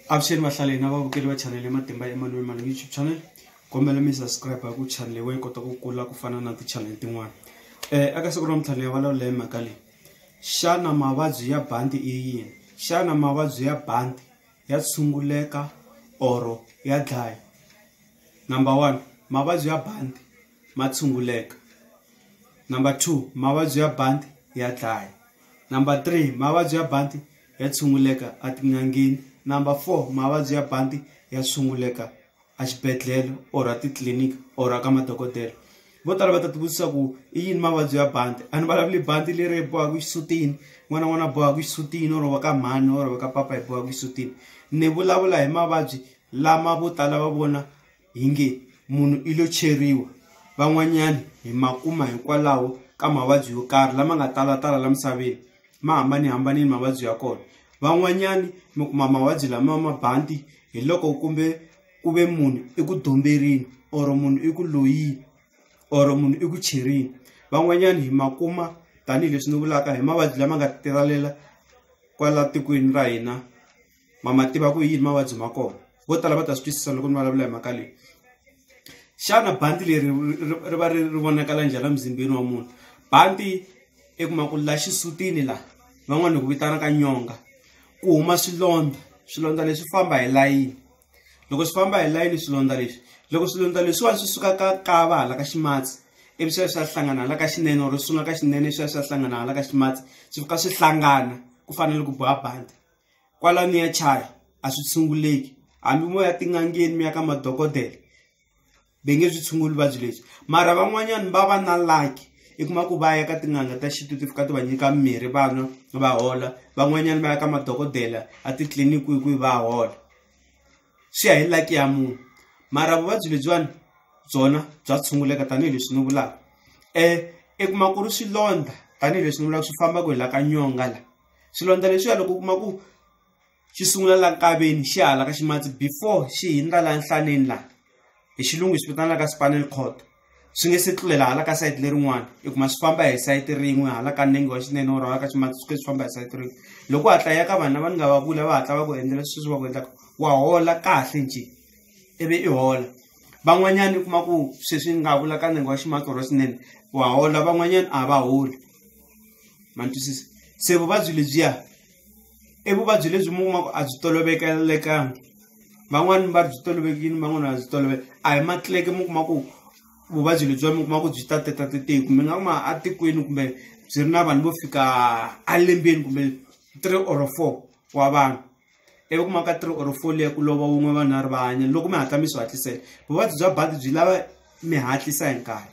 avuxeni vahlaleni na vavukeli va chanele matimba emanuel mali youtube channel kombela mi subscribe hi ku chanele we kota ku kula ku fana na tichanele tin'wana um eka siku ra mintlhanu ya vulavula hi mhaka leyi xana mavabyi ya bandi i yini xana mavabyi ya bandi ya tshunguleka or ya dlaya number one mavabyi ya bandi ma tshunguleka number two mavabyi ya bandi ya dlaya number three mavabyi ya bandi ya tshunguleka etin'angeni number four mavabyi ya banti ya tshunguleka exibedhlele or a titliliniki or a ka madokodela vo tala va ta tivutisa ku i yini mavabyi ya banti a ni vulavuli banti leri bohaka xisutini n'wana n'wana bohaka xisutini or va ka mhani or va ka papa hi bohaka xisutini ni vulavula hi mavabyi lama vo tala va vona Hi nge munhu i lo cheriwa van'wanyana hi ma kuma hikwalaho ka mavabyi yo karhi lama nga talatala la misaveni ma hambanihambanile mavabyi ya kona van'wanyani mi kuma mavabyi lama ma banti hi loko kumbe ku ve munhu i ku domberile or munhu i ku loyini or munhu i ku cherile van'wanyani hi ma kuma tanihileswi ni vulaka hi mavabyi lama nga talela kwala tikweni ra hina. ma ma tiva ku yini mavabyi ma kona vo tala va ta swi twisisa loko ni vulavula hi mhaka leyi xana bandi leri ri va ri ri vonakala njhani emzimbeni wa munhu bandi i kuma ku la xisutini la van'wana hi ku vitanaka nyonga ku huma swilondza swilondza leswi famba hi layini loko swi famba hi layini swilondza leswi loko swilondza leswiwani swi suka ka kava hala ka ximatsi ivi swi ya swi ya hlangana hala ka xinene or swi sungula ka xinene swi ya swi ya hlangana hala ka ximatsi swi fika swi hlangana ku fanele ku boha bandi. kwala mi ya chaya a swi tshunguleki hambi mo ya tin'angeni mi ya ka madokodela ve nge byi tshunguli vuvabyi lebyi mara van'wanyana va va na laki i kuma ku va ya ka tin'anga ta xintu ti fika ti va nyika mimirhi vanwa va hola van'wanyana va ya ka madokodela a titliliniki hi kwihi va hola swi ya hi laki ya munhu mara vuvabyi lebyiwani byona bya tshunguleka tanihileswi ni vulaka um i kuma ku ri swilondza tanihileswi ni vulaka swi fambaka hi la ka nyonga la. swilondza leswiya loko u kuma ku xi sungula la nkaveni xi hala ka ximatsi before xi hindza la nhlaneni la hi xilungu swi vitanaka spinal cord swi nge se tlulela hala ka sayiti lerin'wana i kuma swi famba hi sayiti rin'we hala ka nenge wa xinene or hala ka ximatsi swi ke swi famba hi sayiti rin'we loko hatla ya ka vanhu lava ni nga va vula va hatla va ku endlela sweswi va ku endlaka wa hola kahle nje ivi i hola van'wanyana i kuma ku sweswi ni nga vula ka nenge wa ximatsi or wa xinene wa hola van'wanyana a va holi. ma ni twisisa se vuvabyi lebyiya i vuvabyi lebyi mi kumaka a byi tolovekelekanga van'wani va ri byi tolovekile van'wani va byi tolovele a hi matleke mi kuma ku vuvabyi lebyiwa mi kuma ku byi tatetatitik mi nga kuma atikweni kumbe byi ri na vanhu vo fika alembeni kumbe three or four wa vanhu ivi ku maka three or four leyi ku lova wun'we vanharhu va hanya loko mi hatla mi swi hatlisela vuvabyi bya badi byi lava mi hatlisa hi nkarhi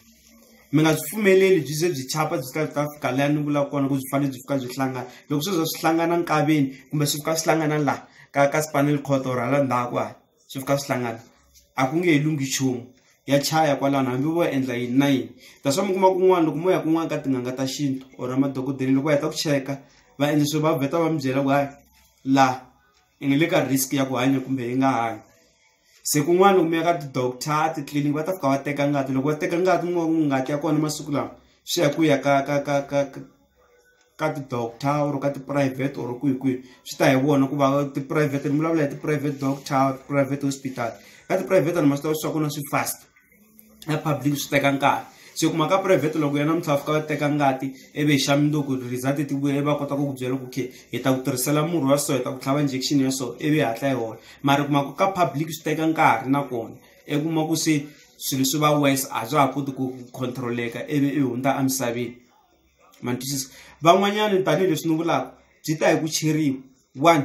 mi nga byi pfumeleli byi ze byi chapa byi ta ta fika laha ni vulaka kona ku byi fanele byi fika byi hlangana loko swi za swi hlangana nkaveni kumbe swi fika swi hlangana laha ka ka spinal cord or hala ndzhaku hala swi fika swi hlangana a ku nge he lunghi nchumu ya chaya kwalano hambi vo endla yini na yini that's why mi kuma kun'wana loko mo ya kun'wana ka tin'anga ta xintu or madokodela loko va heta ku cheka va endla swi va vheta va mi byela ku hayi laha i nge le ka risk ya ku hanya kumbe yi nga hanyi se kun'wana loko mi ya ka ti-doctor titliliniki va ta fika va teka ngati loko va teka ngati mi va ku ngati ya kona masiku lawa swi ya ku ya ka ka ka ka ka. ka ti-doctor or ka tiphurayivhete or kwihi kwihi swi ta hi vona ku va tiphurayivhete ni vulavula hi tiphurayivhete doctor private hospital ka tiphurayivhete ni ma swi tiva swa kona swi fast na public swi teka nkarhi se kuma ka private loko ya namuntlha fika va teka ngati ivi hi xa mundzuku result ti vuya ivi va kota ku ku byela ku okay hi ta ku tirhisela murhi wa so hi ta ku tlhava injection ya so ivi hi hatla hi hola mara kuma ku ka public swi teka nkarhi nakona i kuma ku se swilo swi va wise a bya ha koti ku control-eka ivi i hundza emisaveni ma ni twisisa van'wanyana tanihileswi ni vulaka byi ta hi ku cheriwa one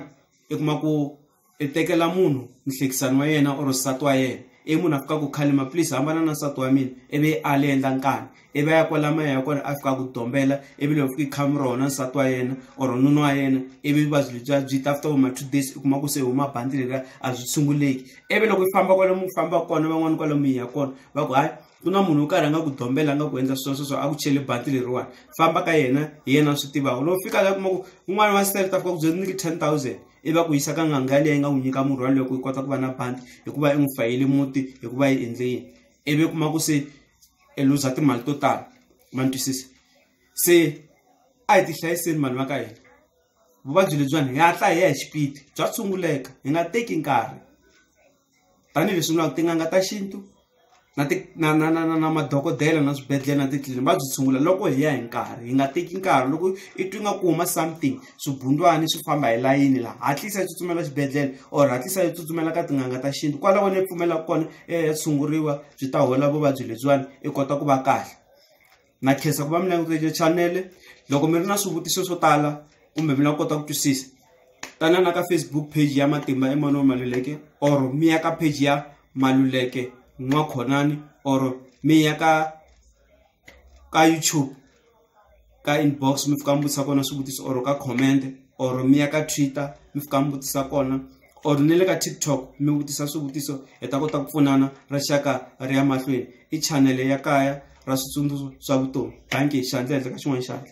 i kuma ku i tekela munhu muhlekisani wa yena or nsati wa yena i munhu a fika ku khalima please hambana na nsati wa mina i vi a le endla nkani i va ya kwala maya ya kona a fika ku dombela i vi loko fika khami rona nsati wa yena or nuna wa yena i vi vuvabyi lebyiya byi ta after ma two days u kuma ku se huma bandi leriya a byi tshunguleki i vi loko i famba kwale mi famba kona van'wani kwale mi ya kona va ku hayi ku na munhu wo karhi a nga ku dombela a nga ku endla sweswo swo a ku chele bati leriwani famba ka yena hi yena a swi tivaka loko fika la kuma ku un'wana wa sele ta fika ku byela niki ten thousand i va ku yisa ka nganga leyi nga n'wi nyika murhi waloyo ku yi kota ku va na bandi hikuva i n'wi fayele muti hikuva yi endle yini ivi kuma ku se i luza timali to tala ma ni twisisa se a hi ti hlayiseni vanhu va ka hina vuvabyi lebyiwani hi hatla hi ya hi xipidi bya tshunguleka hi nga teki nkarhi tanihileswi vulaka tin'anga ta xintu na ti na na na na na madokodela na swibedhlele na titliliniki va byi tshungula loko hi ya hi nkarhi hi nga teki nkarhi loko i twi nga ku huma something swibundwana swi famba hi layini laha hatlisa yi tsutsumela xibedhlele or hatlisa yi tsutsumela ka tin'anga ta xintu kwalaho ni pfumelaka kona ya tshunguriwa byi ta hola vuvabyi lebyiwani i kota ku va kahle. na khensa ku va mi langutele chanele loko mi ri na swivutiso swo tala kumbe mi lava kota ku twisisa tanana ka facebook page ya matimba emmanuel maluleke or mi ya ka page ya maluleke n'wakhonani or mi ya ka ka youtube ka inbox mi fika mi vutisa kona swivutiso or ka comment or mi ya ka twitter mi fika mi vutisa kona or ni le ka tiktok mi vutisa swivutiso hi ta kota ku pfunana rixaka ri ya mahlweni i chanele ya kaya ra switsundzuxo swa vutomi bangi xandla ehenhla ka xin'wana xandla